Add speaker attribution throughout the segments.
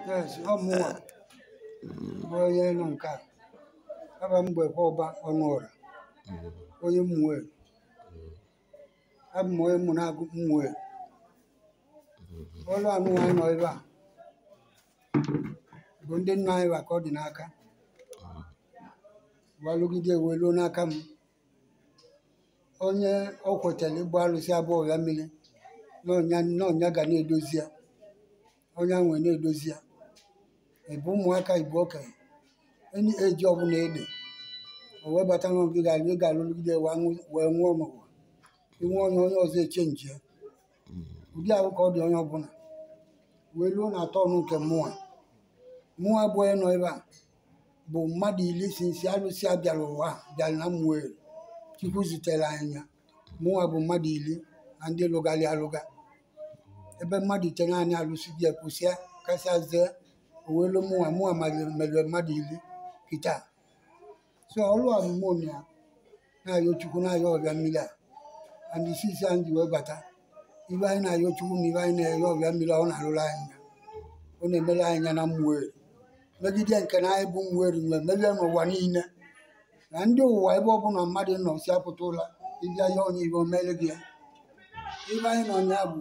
Speaker 1: yes ọ mụnwa bụ onye nọ nke a aba m gbekwa ọba Ọnụọra onye Ụmụeri abụ m onye Ụmụnagụ Ụmụeri ọlụ anwa anyị nọ ebe a bụ ndị nna anyị wa ka ọ dị n'aka wa lụgide wee luo n'aka m onye ọ kwetara ịgba alụsị a bụ ọbịa mmiri na onye a ga na-edozi ya onye ahụ wee na-edozi ya ị bụ ụmụaka ị bụ okenye any age ọbụla ị dị o wee bata na ọ gị ga-alụ ị ga-alụgide wee nwụọ ma ụwa inwe onye onye ọzọ echenji ya ụdị ahụ ka ọ dị onye ọbụla wee ruo na turn nke mụnwa mụnwa bụ onye nọ ebe a bụ mmadụ iri since alụsị a bịara ụwa a, bịara na Ụmụeri chukwu zitere anyị ya mụnwa bụ mmadụ iri na ndị lụgharị alụga ebe mmadụ itenaanị alụsịa bịa kwụsịa kasịa zee o wee luo mụnwa mụnwa mere mmadụ iri kịta so ọrụ a bụ mụ na ya na-ayọ chukwu na-ayọ ọbịa mmiri a and since anyị ji wee bata ibe anyị na-ayọ chukwu na ibe anyị na-ayọ ọbịa mmiri a ọ na-arụrụ anyị ya ọ na-emere anyị ya na Ụmụeri megide nke na anyị bụ Ụmụeri nwee merie n'ụwa niile na ndị ụwa ebe ọ bụla mmadụ nọ si apụta ụwa ị bịa yọọ ya ibe o mere gị ya ibe anyị nọ ya bụ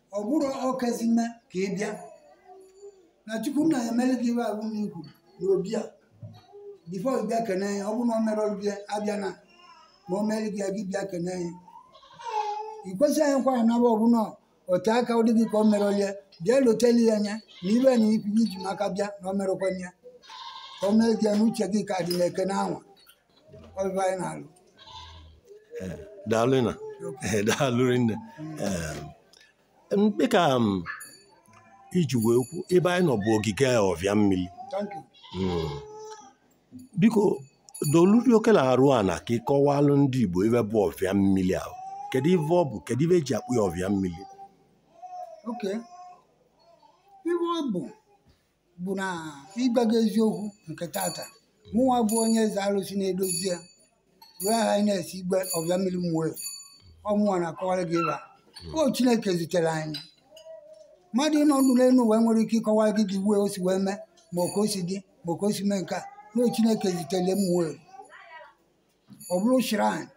Speaker 1: ọ bụrụ ọkazi mma ka ị bịa na chukwu na-emere gị ibe ahụ na ikwu na obi a before ị bịa kene ya ọ bụrụ na ọ mere ọrụ bịa abịa na ma o mere gị ya gị bịa kene ya ị kwesịghị anyị kwara na ọ bụla ote aka ọ dị gị ka o mere ọlịa bịa loteli ya anya na ibe na ikwu gị ji maka bịa na o merekwana ya ka o mere gị ya n'uche gị ka dị na-ekene anwa ọlụlụ anyị na-alụ
Speaker 2: daalụ na ee, daalụ rinne Em, mkpe ka m iji wee kwu ebe anyị nọ bụ ogige ọvịa mmiri thank you Mm. biko doluri oche nọrụ ana ka ị kọwalụ ndị Igbo ife bụ ọvịa mmiri ahụ kedu ife ọ bụ kedu ife e ji akpọ ya ọvịa mmiri
Speaker 1: okay ife ọ bụ bụ na ịgwa gị eziokwu nke tata mụnwa bụ onye eze arụsị na-edozi ya wee aha anyị na-esi igwe ọbịa mmiri Ụmụeri ọ mụnwa na-akọwara gị ibe a ọ chineke zitere anyị mmadụ nọ ndụ n'elu ụwa nwere ike ịkọwara gị dị wee o si wee mee ma ọ ka o si dị ma ọ ka o si mee nke a na ọ chineke zitere Ụmụeri ọ bụrụ shrine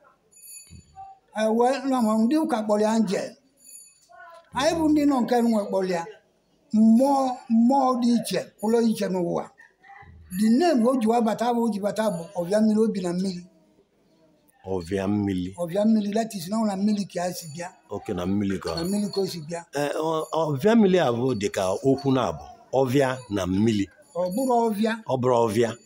Speaker 1: anyị wee na ma ndị ụka kpọrọ ya angel anyị bụ ndị nọ nke nwe kpọrọ ya mmụọ mmụọ dị iche pụlụ iche n'ụwa the name o ji wa bata bụ o ji bata bụ ọvịa mmiri o bi na mmiri
Speaker 2: ọvịa mmiri ọvịa mmiri that
Speaker 1: is na ọ na mmiri ka ya si bịa okay na mmiri ka
Speaker 2: na mmiri ka o si
Speaker 1: bịa Ee, ọ- ọvịa
Speaker 2: mmiri a bụ dịka okwu naabọ ọvịa na mmiri ọ bụrọ ọvịa
Speaker 1: ọ bụrọ ọvịa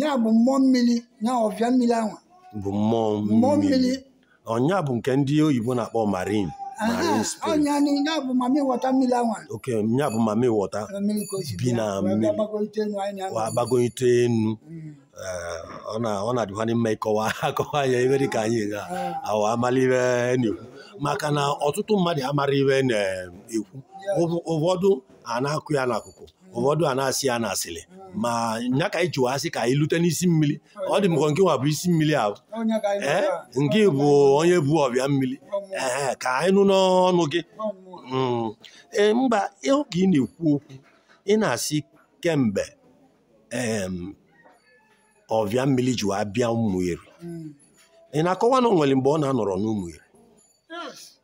Speaker 1: ya bụ mmụọ mmiri ya ọvịa mmiri anwa bụ
Speaker 2: mmụọ mmụọ mmiri mmiri ọ nya bụ nke ndị oyibo na-akpọ marine marine spirit ọ
Speaker 1: nya nya bụ mami wọta mmiri anwa okay ya bụ mami
Speaker 2: wọta mmiri ka o si Bi bịa, na wee mmiri. gbagolite enu anyị na-anọ. wa agbagonyite enu Mm. Ee, ọ na- ọ na-adịkwanye mma ịkọwa akọwa ya ive dị ka anyị ga awa amala ive a na-ekwu maka na ọtụtụ mmadụ amara ive a na-ekwu Ụfọdụ a na-akọ ya n'akụkọ ụfọdụ a na-asị ya n'asịrị ma nya ka anyị ji wa asị ka anyị lute n'isi mmiri ọ dị m ka ọ nke nwa bụ isi mmiri ahụ ee nke bụ onye bụ ọvịa mmiri ee ka anyị nụ n'ọnụ gị Mm. ee mgbe ahụ ka ị na-ekwu okwu ị na-asị kemgbe em, ọvịa mmiri ji wa bịa Ụmụeri ị na-akọwa na o nwere mgbe ọ na-anọrọ n'Ụmụeri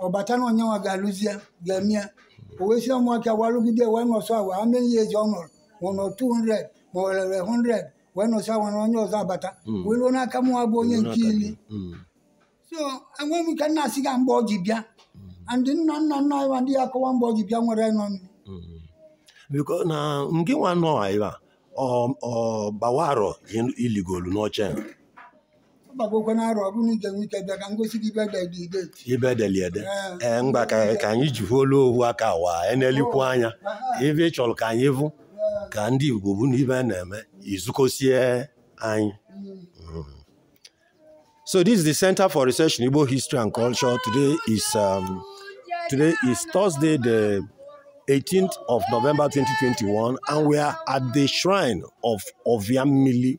Speaker 1: ọ bata na onye nwa ga-alụzi ya ga-eme ya o wee si ụmụaka wa lụgide wee nọsọ awa amịrị ya ezi ọ nọrọ ma ọ nọ 200 ma ọ rere 100 wee nọsọ awa na onye ọzọ abata Mm. wee ruo n'aka mụwa bụ onye nke ili Mm. so enwe m ike na-asị gị mgbe ọ ji bịa ndị nna nna nna anyị ma ndị ya akọwa mgbe ọ ji bịa nwere nọ nri. Mm.
Speaker 2: biko na nke nwa nọ ebe a ọ ọ gbawarọ iligolu n'oche a.
Speaker 1: agbagokwe n'arọ ọ bụ na ị je enwe ike bịa ka m gosi gị bịa
Speaker 2: dị ideti ive e deli ede ee mgba ka ka anyị ji olu ohu aka wa enelikwu anya ive ị chọrọ ka anyị vụ ka ndị Igbo vụ n'ive na-eme izukosie anyị mm. so this is the Center for Research in Igbo History and Culture today is um, today is Thursday the 18th of November 2021 and we are at the shrine of Oviamili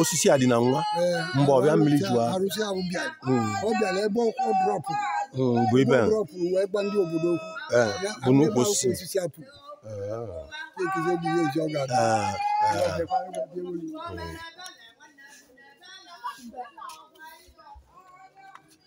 Speaker 2: osisi a dị na nwa mgbe ọvịa mmiri jụọ arụsị ahụ bịara hmm. ọ bịara ebe ọ drọpụ hmm, bụ ebe ọ drọpụ wee gwa ndị obodo okwu eh, bụ n'ukwu osisi osisi akpụ ekize dị ihe eji ọ ga-adị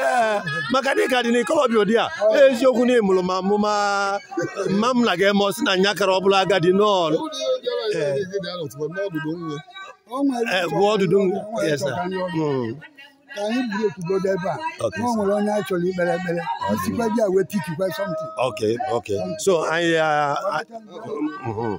Speaker 2: Ee, maka na ị ka dị n'ikolobịa ụdị a eziokwu na ịmụrụ ma amụma mma m na gị eme ọ sị na nya kara ọ bụla agadi nọọ Eh, gụọ ọdụdụ m. Yes, sir.
Speaker 1: Mm. ka anyị buru okwugodo ebe a Okay, na o nwere onye a chọrọ ikpere ekpere isikwa di a wee tikikwa something Okay, okay.
Speaker 2: So anyị ah, ah, mhm.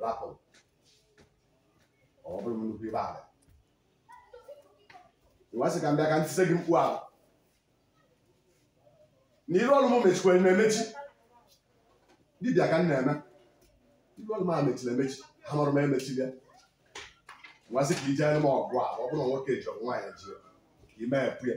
Speaker 3: rapụ ọ bụrụ m nnukwu ibe ala wee sị ka m bịa ka m tise gị mkpu ahụ na iru ọrụ m mechikwere na-emechi dibịa ka m na-eme iru ọrụ m a mechiri emechi ha mụrụ m emechi bịa wee sị ka i jeere m ọgụ a ọ bụrụ na nwoke ji ọ bụ nwaanyị ji ka i mepee ya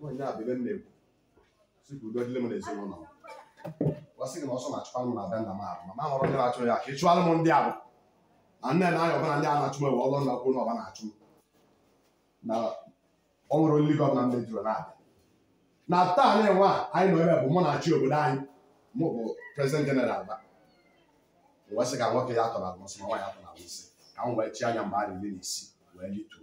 Speaker 3: nwaanyị a bụ ebe m na-ekwu si ka udo dịlị m n'ezinụlọ m wee sị gị na ọsọ na-achụkwa m na be nna m ahụ ma ma hụrụ ndị na-achụ ya ka ị chụọrọ m ndị ahụ na nne na anya ọbụla ndị a na-achụ m ewe ọlụ nna kwuo na ọ bụ ha na-achụ m na ọ nwere olili gị ọbụla m mejuru na-abịa na taa na-enwe a anyị nọ ebe bụ mụ na-achị obodo anyị mụ bụ prezident jeneral ba wee sị ka nwoke ya tọrọ alụsị ma nwaanyị tọrọ alụsị ka m wee chi anya mgbe a na-eri na isi wee lituo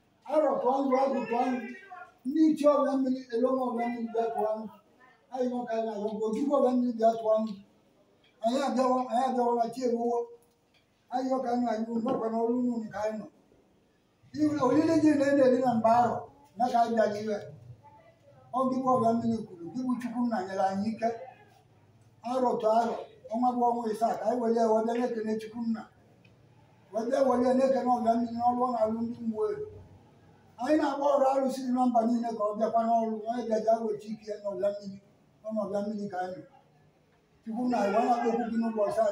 Speaker 1: arọ tụa nzu agwụ tụa nzu ndị ichie ọbịa mmiri eloma ọbịa mmiri bịa tụa nzu ayịyọ ka anyị na-ayọ ogwugwu ọbịa mmiri bịa tụa nzu anyị abịawa anyị abịawala chi eruwo ayịyọ ka anyị na-ayọ unu kwa na ọrụ unu ka anyị nọ ihe olili gị na ede dị na mba arọ na ka anyị bịara iwe ọ gị bụ ọbịa mmiri kwuru gị bụ chukwu nna nyere anyị ike arọ tụ arọ ọnwa bụ ọnwa ịsaa ka anyị were wee bịa na-ekele chukwu nna wee bịa were ya na-ekene ọbịa mmiri n'ọrụ ọ na-alụ ndị mmụọ elu anyị na-akpọ ọra arụsị dị na mba niile ka ọ bịakwa n'ọrụ onye bịaja weta ike ya n'ọbịa mmiri ọ n'ọbịa mmiri ka anyị chukwu nna wee na-akpọku gị n'ụbọchị taa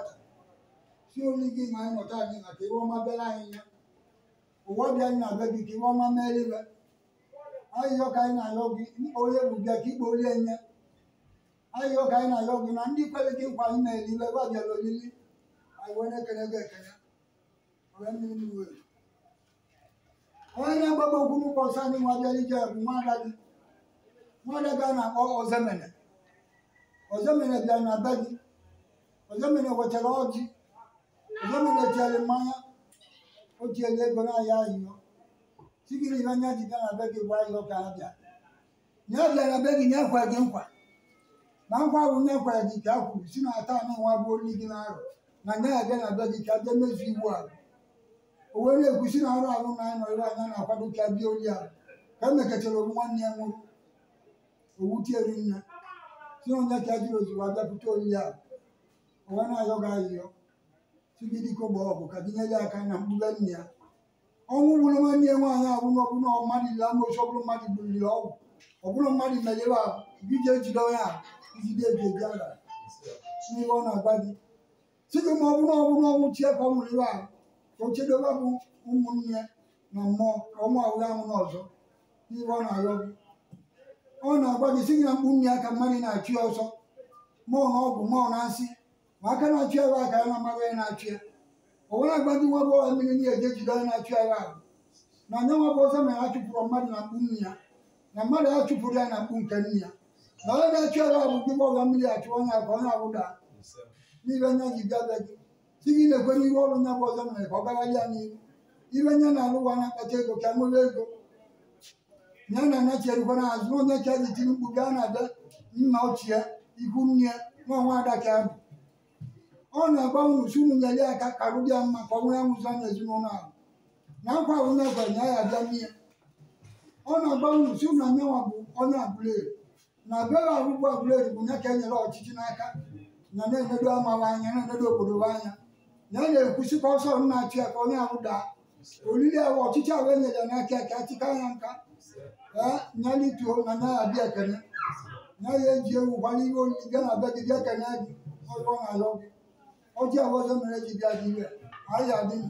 Speaker 1: sị oli gị ma anyị nọ taa anyị na ka ihe ọma bịara anyị ya ụwa bịa anyị na be gị ka ihe ọma meliwe ayịyọ ka anyị na-ayọ gị onye bụ bịa ka ikpe onye nye ayịyọ ka anyị na-ayọ gị na ndị kwere gị nkwa anyị na-eli iwe gwa bịara olili anyị wee na-ekele gị ekele wee mmiri mmiri wee onye na-agbagba okwu n'ụbọsị anyị nwa bịara ije bụ nwada gị nwada gị a na-akpọ ozemene ozemene bịara na be gị ozemene wetara ọjị ozemene tiere mmanya o tiere ego na-ayọ ayịyọ sị gị na ihe nya ji bịa na be gị bụ ayịyọ ka ha bịa nya bịa na be gị nya kwe gị nkwa na nkwa ahụ nya kwara gị ka a kwuru sị na taa nụnwa bụ oli gị na arọ na nya ya bịa na be gị ka a bịa mezu iwu ahụ o wee na-ekwu sị na arọ ahụ na anọ ebe nya na-akwado ka a bịa oli ahụ ka e mekọtara ọnwụ nwanne ya nwụrụ ọnwụ tiere nne sị na ọ nya ka a jiri ozugbo abịapụta oli ahụ o wee na-ayọ gị ayịyọ sị gị dike ogbo ọgụ ka gị nyere ya aka na mkpuke nne ya ọnwụ gburu nwanne ya nwaanyị ahụ na ọ bụ na mmadụ ile amosu ọ bụrụ mmadụ gburiri ọgwụ ọ bụrụ mmadụ mere ihe ahụ gị ji ejide onye ahụ ijide eji eji ala n'ihe ọ na-agwa gị sị gị ma ọ bụrụ ọ bụrụ ọnwụ chi ya ka ọ nwụrụ ihe ahụ ka o chedo ha bụ ụmụnne na mmụọ ka ọnwụ ahụ ya anwụna ọzọ n'ihe ọ na-arịọ gị ọ na-agwa gị sị gị na mkpuke nne ya ka mmadụ na-achụ ya ọsọ ma ọ na ọgwụ ma ọ na nsị ma aka na-achụ ya aka ya na-amaghị onye na-achụ ya o wee agwa gị nwa bụ ọha mmiri ndị eji ejide onye na-achụ ya ahụ na nya nwa bụ ọsọ mere a chụpụrụ mmadụ na mkpu nne ya na mmadụ a chụpụrụ ya na mkpu nke nne ya na onye na-achụ ya ahụ bụ gị ọha mmiri achụ onye ahụ ka onye ahụ daa n'ibe nya ji bịa be gị sị gị na-ekwe n'ihu ọrụ nya bụ ọzọ mere ka ọ gagharị ya n'ihu ibe nya na-alụ ụwa na-akpata ego ka nwere ego ya na anya cherukwa n'azụ na onye chaji tiri mkpu gaa na be nna ochie ikwu nne ya nwa nwa ada ka ya bụ ọ na-agwa unu sị unu nyere ya aka ka arụ dị ya mma ka ọ nwee anwụzi na ezinụlọ ahụ na nkwa ahụ na-ekwe nya ya abịa n'ihe ọ na-agwa unu sị unu na nya nwa bụ onye abụla ere na bịara ọgwụgwọ ọbụla erigbu ya ka e nyere ọchịchị n'aka na na-enedo ama ha anya na-enedo obodo ha anya na a na-ekwusi ka ọsọ na-achụ ya ka onye ahụ daa olili ahụ ọchịchị ahụ e nyere ya n'aka ya ka achịka ya nka ee nya lituo na nya abịa ekene nya ya eji ewu gbara ihe olili bịa na be gị bịa kene gị ọzọ na alọ gị ọjị ahụ ọzọ mere ji bịa dị iwe anyị adị ndụ.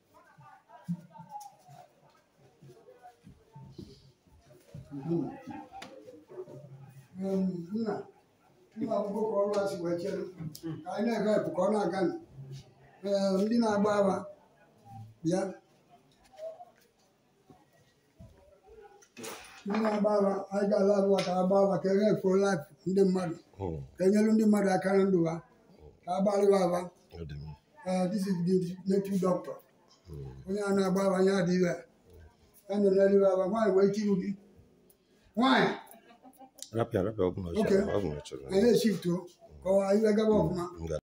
Speaker 1: nna nna akwụkwọ ka ọrụ a si wee chere ka anyị na-ega epụ ka ọ na-aga nụ. Ee, ndị na-agba afa bịa Ndị na-agba afa anyị ga-ala abụwa ka agba afa ka enye fo life ndị mmadụ Mm, ka enyelu ndị mmadụ aka na ndụ ha ka agbalụ wa afa ọ dị mma. Eh, this is the native doctor onye a na-agba afa anya dị iwe ya nọ n'elu aba nwaanyị wee tiru gị nwaanyị Rapịa rapịa ọ bụla ọ Okay. chọrọ, ọ bụla ọ chọrọ. anyị
Speaker 2: na-eshiftu
Speaker 1: ka o wee gaba ọfụma M ga-